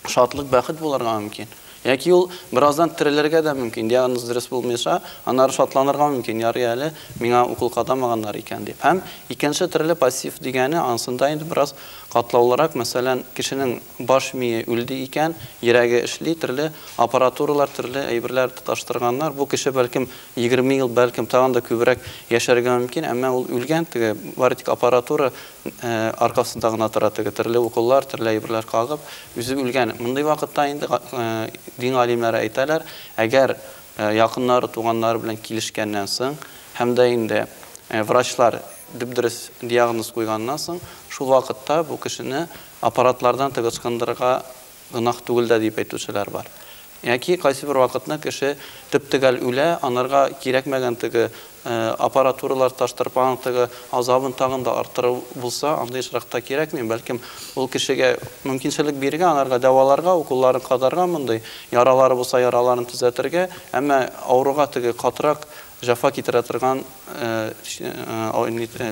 шатлык, бәхет булырга мөмкин. Яки ул бераздан терелергә дә мөмкин, диагноз дөрес булмыйча, аннары шатланырга мөмкин, ярый әле миңа укол кадамаганнар икән, дип. Һәм икенче төрле пассив дигәне, анысында инде бераз катлаулырак, мәсәлән, кешенең баш мие үлде икән, йөрәге эшли, төрле аппаратуралар, төрле әйберләр тоташтырганнар, бу кеше, бәлкем, Егерме ел, бәлкем, тагын да күбрәк яшәргә мөмкин, әмма ул үлгән, теге бары тик аппаратура аркасында гына тора, теге төрле уколлар, төрле әйберләр кагып, үзе үлгән. Мондый вакытта инде дин галимнәре әйтәләр, әгәр якыннары, туганнары белән килешкәннән соң һәм дә инде врачлар дөп-дөрес диагноз куйганнан соң, шул вакытта бу кешене аппаратлардан теге ычкындырырга гөнаһ түгел дә дип әйтүчеләр бар. Яки кайсыбер вакытны кеше төп-төгәл үлә, анырга кирәкмәгән теге аппаратуралар, таш тырпаның теге азабын тагын да арттыру булса, андый очракта кирәкми, бәлкем ул кешегә мөмкинчелек бирергә, анырга дәваларга, уколларын кадарга мондый, яралары булса, яраларын төзәтергә, әмма авыруга теге катырак җәфа китерә торган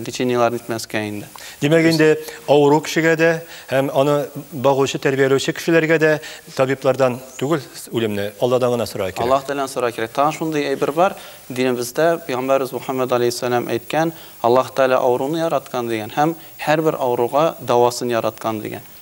лечениеләр нитмәскә инде. Димәк инде авыру кешегә дә һәм аны багучы, тәрбияләүче кешеләргә дә табиблардан түгел үлемне, Алладан гына сорарга кирәк. Аллаһ Тәгаләдән сорарга кирәк. Тагын шундый әйбер бар, динебездә пәйгамбәребез Мөхәммәд алейһиссәлам әйткән, Аллаһ Тәгалә авыруны яраткан дигән һәм һәрбер авыруга дәвасын яраткан дигән.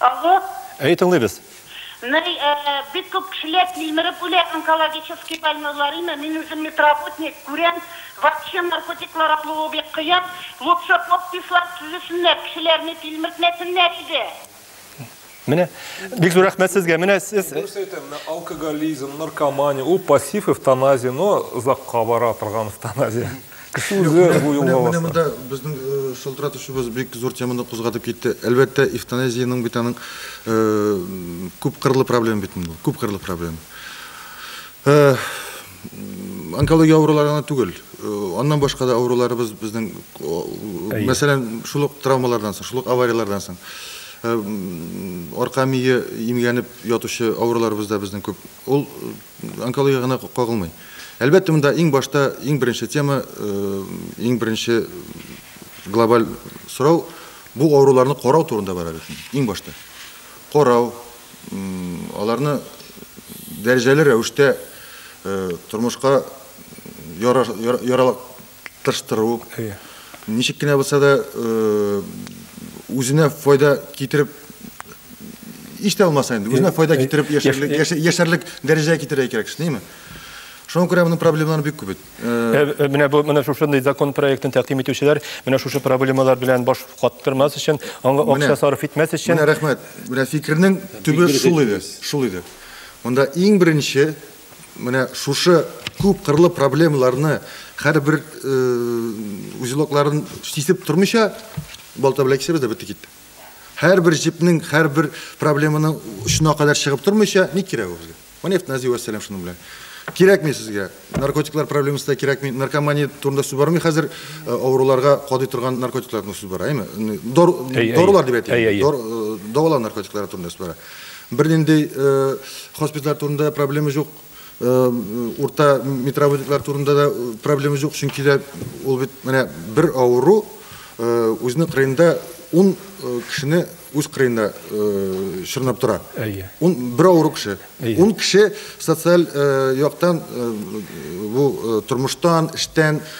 Алло. Әйе, тыңлыйбыз. Ный, э, бик күп кешеләр тилмереп үлә, онкологический больнойларыймы, мин үзем медработник, күрәм, вообще наркотиклар алуы бик кыен, лучше подпислар төзесеннәр, кешеләрне тилмертмәсеннәр иде. Менә, бик зур рәхмәт сезгә, менә сез. Дөрес әйтә, менә алкоголизм, наркомания, ул пассив эвтаназия, но озакка бара торган эвтаназия. Менә монда безнең шылтыратучыбыз бик зур теманы кузгатып китте. Әлбәттә, эвтаназиянең бит аның күп кырлы проблема бит бу. Күп кырлы проблема. Онкология авырулары гына түгел. Аннан башка да авыруларыбыз безнең, мәсәлән, шул ук травмалардан соң, шул ук аварияләрдән соң арка мие имгәнеп ятучы авыруларыбыз да безнең күп. Ул онкологиягә гына кагылмый. Әлбәттә, монда иң башта, иң беренче тема, иң беренче глобаль сорау бу авыруларны карау турында бара бит. Иң башта. Карау, аларны дәрәҗәле рәвештә тормышка яралак тырыштыру, ничек кенә булса да үзенә файда китереп еш та булмаса инде, үзенә файда китереп яшәрлек дәрәҗәгә китерергә кирәк кеше, нияме? Шуңа күрә моның проблемалары бик күп бит. Менә бу менә шушындый закон проектын тәкъдим итүчеләр менә шушы проблемалар белән баш каттырмас өчен, аңа акча сарыф итмәс өчен. Менә рәхмәт. Менә фикернең төбе шул иде, шул иде. Монда иң беренче Менә шушы күп кырлы проблемаларны һәрбер узелокларын сисеп тормыйча балта белән кисәбез дә бетте китте. Һәрбер җепнең, һәрбер проблеманың очына кадәр чыгып тормыйча ни кирәк ул безгә? Менә эвтаназия вәссәлам шуның белән. Кирәкми сезгә. Наркотиклар проблемасы да кирәкми. Наркомания турында сүз бармый хәзер. Авыруларга кадый торган наркотиклар турында сүз бара, әйме? Дарулар дип әйтик. Дору наркотиклары турында сүз бара. Бернинди хоспитальләр турында да проблема җук. Урта медработниклар турында да проблема җук, чөнки дә ул бит менә бер авыру үзенең кырыенда ун кешене үз кырыенда чорнап тора. Әйе. Ун бер авыру кеше. Ун кеше социаль яктан бу тормыштан, эштән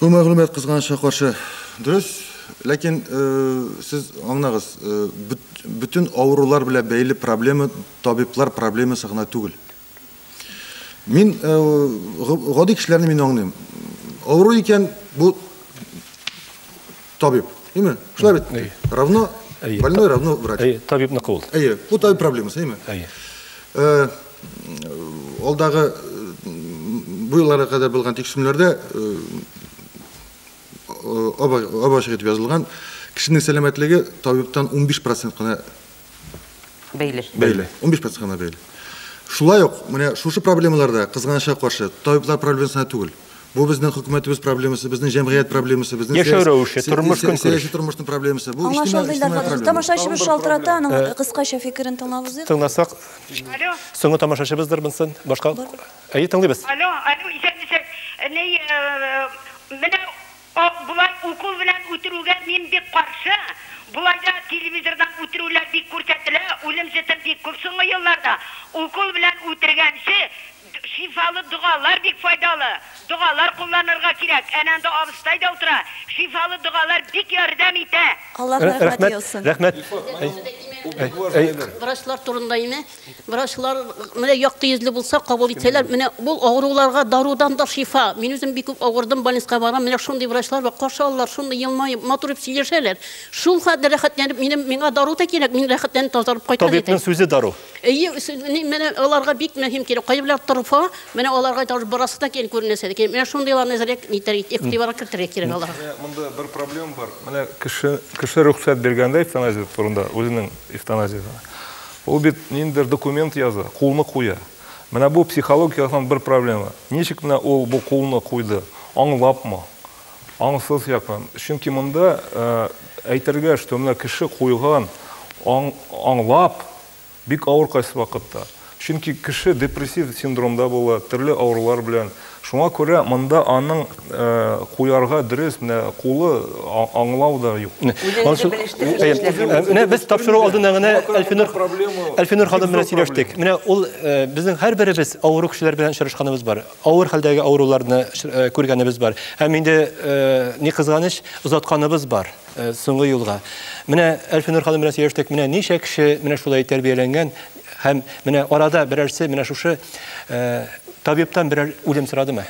Бу мәгълүмат кызганычка каршы дөрес, ләкин сез аңнагыз, бөтен авырулар белән бәйле проблема табиблар проблемасы гына түгел. Мин гади кешеләрне мин аңлыйм. Авыру икән, бу Табиб. Әйме? Шулай бит? Әйе. Равно Әйе. больной, равно врач. Әйе, табибныкы ул. Әйе. Бу табиб проблемасы, әйме? Әйе. Э, Алдагы бу елларга кадәр булган тикшерүләрдә э, э, ачык итеп язылган, кешенең сәламәтлеге табибтан 15% кына бәйле. Бәйле. 15 процентка гына бәйле. Шулай ук, менә шушы проблемаларда кызганычка каршы табиблар проблемасына түгел. Бу безнең хөкүмәтебез проблемасы, безнең җәмгыять проблемасы, безнең яшәү рәвеше, тормыш көнкүреше. Сәяси тормышның проблемасы. Бу иҗтимагый проблема. Тамашачыбыз шалтырата, аның кыскача фикерен тыңлабыз. Тыңласак, соңгы тамашачыбыздыр монсын, башка. Әйе, тыңлыйбыз. Алло, алло, исәнмесез. Менә Акбулат укол белән үтерүгә мин бик каршы. Болай да телевизордан үтерүләр бик күрсәтелә, үлем җете бик күп соңгы елларда. Укол белән үтергәнче шифалы догалар бик файдалы. Догалар кулланырга кирәк. Әнә анда абыстай да утыра. Шифалы догалар бик ярдәм итә. Аллаһ рәхмәте яусын. Рәхмәт, рәхмәт. Врачлар турында ими, Врачлар менә якты йөзле булса, кабул итсәләр, менә бу авыруларга дарудан да шифа. Мин үзем бик күп авырдым, больницага барам, менә шундый врачлар бар, каршы алалар, шундый елмаеп, матур итеп сөйләшәләр. Шул хәтле рәхәтләнеп, минем миңа дару да кирәк, мин рәхәтләнеп тазарып кайтам. Табибның сүзе дару. Әйе, менә аларга бик мөһим кирәк. Кайберләр торфа, менә аларга да барасы да кирәк, күренәсе дә кирәк. Менә шундыйларны әзрәк нитәр, игътибарга кертергә кирәк аларга. Монда бер проблема бар. Менә кеше, кеше рөхсәт биргәндә эвтаназия турында, үзенең эвтаназиясен. Ул бит ниндидер документ яза, кулны куя. Менә бу психологик яктан бер проблема. Ничек менә ул бу кулны куйды? Аңлапмы? Аңсыз якмы? Чөнки монда әйтергә, что менә кеше куйган, аңлап, бик авыр кайсы вакытта. Чөнки кеше депрессив синдромда була, төрле авырулар белән. Шуңа күрә монда аның куярга дөрес менә кулы аңлау да юк. Үзегезне белештереп эшләп. Менә без тапшыру алдында гына Әлфинур Әлфинур ханым белән сөйләштек. Менә ул безнең һәрберебез авыру кешеләр белән очрашканыбыз бар. Авыр хәлдәге авыруларны күргәнебез бар. Һәм инде ни кызганыч, озатканыбыз бар соңгы юлга. Менә Әлфинур ханым белән сөйләштек. Менә ничә кеше менә шулай тәрбияләнгән. Һәм менә арада берәрсе менә шушы э, табибтан берәр үлем сорадымы?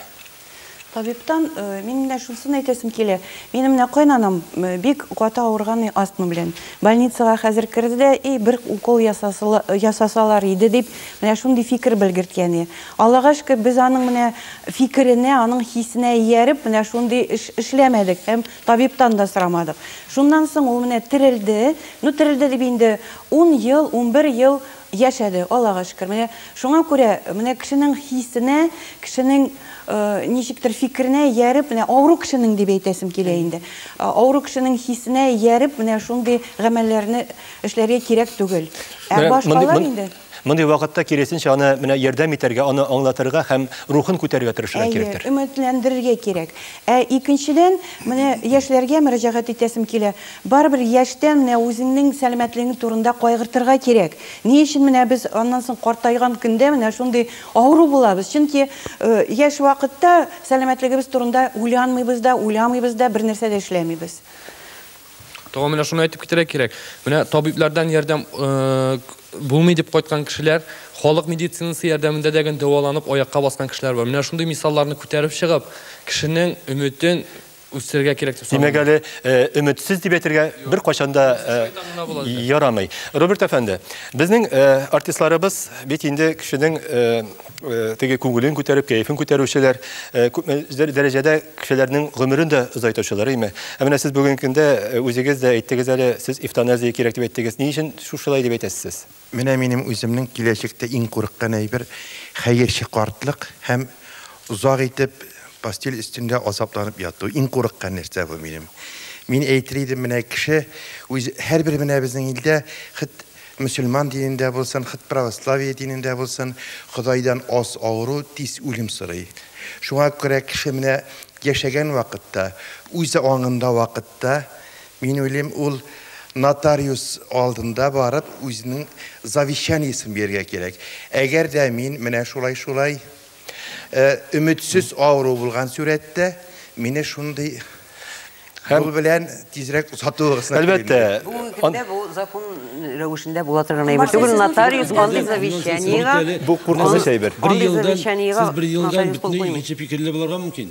Табибтан э, мин менә шусын әйтәсем килә. Минем менә кайнанам э, бик каты авырган астма белән. Больницага хәзер керде дә, и бер укол ясасалар иде дип, менә шундый фикер белгерткәне. Аллага шөкер, без аның менә фикеренә, аның хисенә ияреп, менә шундый эш эшләмәдек. Һәм Табибтан да сорамадык. Шуннан соң ул менә терелде. Ну, терелде дип инде, ун ел, унбер ел яшәде, Аллага шөкер. Менә шуңа күрә, менә кешенең хисенә, кешенең ничектер фикеренә ияреп, менә авыру кешенең дип әйтәсем килә инде, авыру кешенең хисенә ияреп, менә шундый гамәлләрне эшләргә кирәк түгел. Ә башкалар инде. Мондый вакытта, киресенчә, аны менә ярдәм итәргә, аны аңлатырга һәм рухын күтәрергә тырышырга кирәктер. Әйе, өметләндерергә кирәк. Ә икенчедән, менә яшьләргә мөрәҗәгать итәсем килә. Барыбер яшьтән менә үзеңнең сәламәтлегең турында кайгыртырга кирәк. Ни өчен менә без аннан соң картайган көндә менә шундый авыру булабыз? Чөнки яшь вакытта сәламәтлегебез турында уйланмыйбыз да, уйламыйбыз да, бернәрсә дә эшләмибез. Тагын менә шуны әйтеп китәргә кирәк. Менә табиблардан ярдәм булмый дип кайткан кешеләр, халык медицинасы ярдәмендә дә дәваланып аякка баскан кешеләр бар. Менә шундый мисалларны күтәреп чыгып, кешенең өметен үстерергә кирәк дип саныйм. Димәк әле өметсез дип әйтергә бер кайчанда ярамый. Роберт әфәнде, безнең артистларыбыз бит инде кешенең Э, теге күңелен күтәреп, кәефен күтәрүчеләр, э, күп дәрәҗәдә кешеләрнең гомерен дә озайтучылар, әйме. Ә менә сез бүгенге көндә э, үзегез дә әйттегез әле, сез эвтаназия кирәк дип әйттегез. Ни өчен шушылай дип әйтәсез сез? Менә минем үземнең киләчәктә иң курыккан әйбер хәерче картлык һәм озак итеп постель өстендә азапланып яту. Иң курыккан нәрсә бу минем. Мин әйтер идем, менә кеше үз һәрбер менә безнең илдә хит Мөселман динендә булсын, хт православие динендә булсын, Ходайдан аз авыру, тиз үлем сорый. Шуңа күрә кеше менә яшәгән вакытта, үз аңында вакытта, мин уйлыйм, ул нотариус алдында барып, үзенең завещаниесен бирергә кирәк. Әгәр дә мин менә шулай-шулай Өметсез авыру булган сүрәттә мине шундый Һәм белән тизрәк озатуыгыз. Әлбәттә. Бүгенге көндә бу закон рәвешендә була торган әйбер түгел. Нотариус андый завещаниегә бу куркыныч әйбер. Бер елдан сез бер елдан бөтенләй икенче фикерле булырга мөмкин.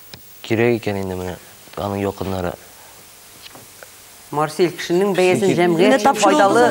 Кирәк икән инде менә аның якыннары. Марсель, кешенең бәясен җәмгыять өчен файдалы,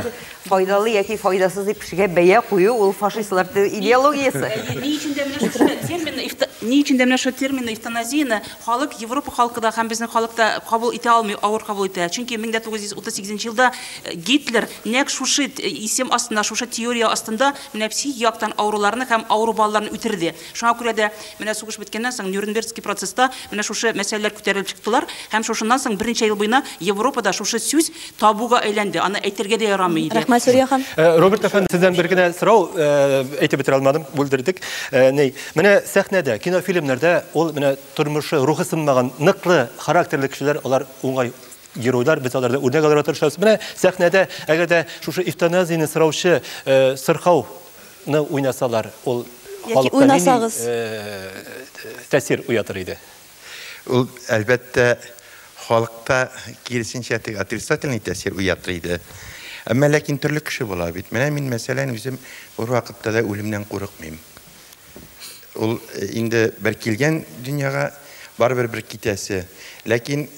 файдалы яки файдасыз дип кешегә бәя кую, ул фашистлар идеологиясе. Ни өчен дә менә шушы терминны, ни өчен дә менә шушы терминны эвтаназияне халык, Европа халкы да һәм безнең халык та кабул итә алмый, авыр кабул итә. Чөнки 1938 елда Гитлер нәкъ шушы исем астында, шушы теория астында менә психик яктан авыруларны һәм авыру балаларны үтерде. Шуңа күрә дә менә сугыш беткәннән соң Нюрнбергский процесста менә шушы мәсьәләләр күтәрелеп чыктылар һәм шушыннан соң берничә ел буена Европада шушы сүз табуга әйләнде, аны әйтергә дә ярамый иде. Рәхмәт, Сүрия ханым. Роберт әфәнде, сездән бер генә сорау, әйтеп бетерә алмадым, бүлдердек. Ни, менә сәхнәдә, кинофильмнарда ул менә тормышы, рухы сынмаган, ныклы характерлы кешеләр, алар уңай геройлар, без алардан үрнәк алырга тырышабыз. Менә сәхнәдә, әгәр дә шушы эвтаназияне сораучы сырхау ны уйнасалар, ул халыкта нинди тәэсир уятыр иде? Ул, әлбәттә, халыкта киресенчә теге отрицательный тәэсир уятыр иде. Әмма ләкин төрле кеше була бит. Менә мин, мәсәлән, үзем бервакытта да үлемнән курыкмыйм. Ул инде бер килгән дөньяга, барыбер бер китәсе. Ләкин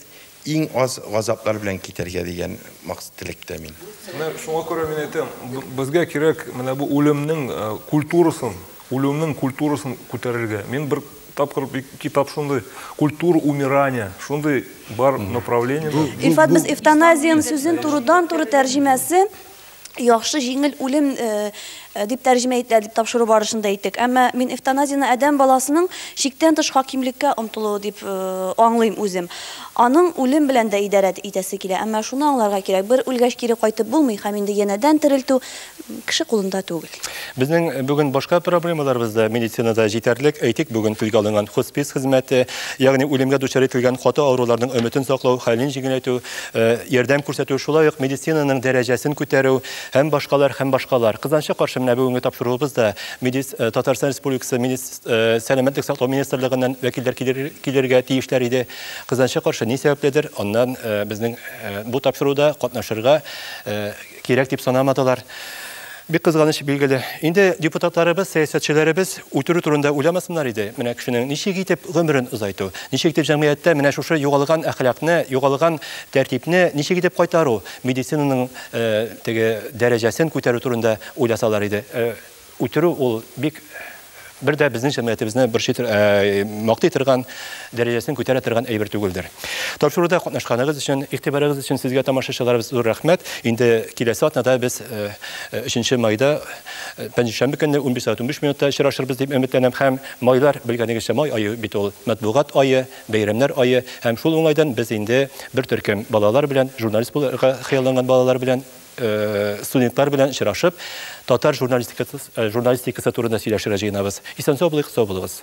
иң аз газаплар белән китәргә дигән максат теләктә мин. Менә шуңа күрә мин әйтәм, безгә кирәк менә бу үлемнең э, культурасын, үлемнең культурасын күтәрергә. Мин бер тапкыр бик китап шундый культура умирания шундый бар направление. Ифат без эвтаназиян сүзен турыдан-туры тәрҗемәсе яхшы җиңел үлем э, э, дип тәрҗемә ителә дип тапшыру барышында әйттек. Әмма мин эвтаназияне адәм баласының чиктән тыш хакимлеккә омтылуы дип э, аңлыйм үзем. Аның үлем белән дә идарә итәсе килә. Әмма шуны аңларга кирәк, бер үлгәч кире кайтып булмый һәм инде янәдән терелтү кеше кулында түгел. Безнең бүген башка проблемаларыбыз да медицинада җитәрлек. Әйтик, бүген телгә алынган хоспис хезмәте, ягъни үлемгә дучар ителгән каты авыруларның өметен саклау, хәлен җиңеләйтү, э, ярдәм күрсәтү, шулай ук медицинаның дәрәҗәсен күтәрү һәм башкалар һәм башкалар. Кызганычка каршы, менә бүгенге тапшыруыбыз да медиц... Э, Татарстан Республикасы медиц... Э, сәламәтлек саклау министрлыгыннан вәкилләр килергә тиешләр иде. Кызганычка каршы, ни сәбәпледер, аннан безнең бу тапшыруда катнашырга кирәк дип санамадылар. Бик кызганыч билгеле. Инде депутатларыбыз, сәясәтчеләребез үтерү турында уйламасыннар иде. Менә кешенең ничек итеп гомерен озайту, ничек итеп җәмгыятьтә менә шушы югалган әхлакны, югалган тәртипне ничек итеп кайтару, медицинаның э, теге дәрәҗәсен күтәрү турында уйласалар иде. Э, үтерү ул бик бер дә безнең җәмгыятебезне борчый э, мактый торган дәрәҗәсен күтәрә торган әйбер түгелдер. Тапшыруда катнашканыгыз өчен, игътибарыгыз өчен сезгә тамашачыларыбыз зур рәхмәт. Инде киләсе атнада без 3 э, майда э, пәнҗешәмбе көнне 15:15 минутта очрашырбыз дип өметләнәм һәм майлар белгәнегезчә май ае бит ул матбугат ае, бәйрәмнәр ае һәм шул уңайдан без инде бер төркем балалар белән журналист булырга хыялланган балалар белән студентлар белән очрашып, татар журналистикасы, журналистикасы турында сөйләшергә җыенабыз. Исән-сау булыйк, сау булыгыз.